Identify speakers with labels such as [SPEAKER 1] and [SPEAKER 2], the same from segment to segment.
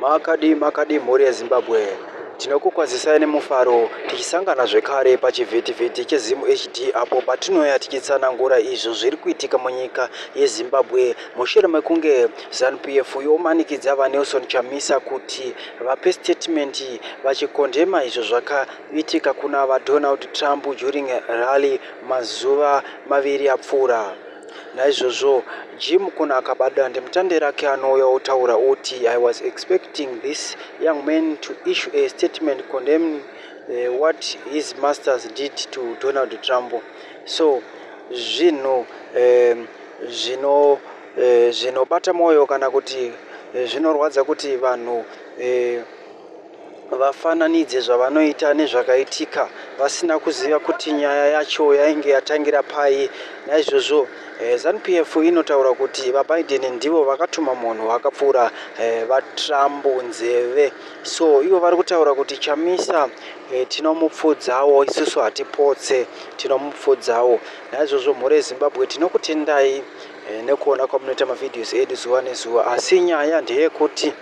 [SPEAKER 1] Makadii makadii mhuri yeZimbabwe. Tinokukwazisai nemufaro tichisangana zvekare pachivhitivhiti cheZimHD apo patinouya tichitsanangura izvo zviri kuitika munyika yeZimbabwe mushure mekunge ZanuPF yomanikidza VaNelson Chamisa kuti vape statement vachikondema izvo zvakaitika kuna VaDonald Trump during rally mazuva maviri apfuura. Naizvozvo Jim Kuno akaba dandemutande rake anouya otaura oti, I was expecting this young man to issue a statement condemning eh, what his masters did to Donald Trump. So zvinhu eh, zvino eh, zvinobata mwoyo kana kuti eh, zvinorwadza kuti vanhu eh, vafananidze zvavanoita nezvakaitika vasina kuziva kuti nyaya yacho yainge yatangira pai naizvozvo eh, zanupf inotaura kuti vabiden ndivo vakatuma munhu wakapfuura eh, vatrump nzeve so ivo vari kutaura kuti chamisa eh, tinomupfudzawo isusu hatipotse tinomupfudzawo naizvozvo mhuri yezimbabwe tinokutendai nekuona kwamunoita mavhidhios edu zuva nezuva asi nyaya ndeyekuti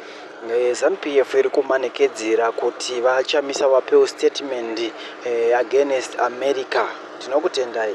[SPEAKER 1] Eh, ZanuPF iri kumanikedzera kuti VaChamisa vapewo statement eh, against America. Tinokutendai.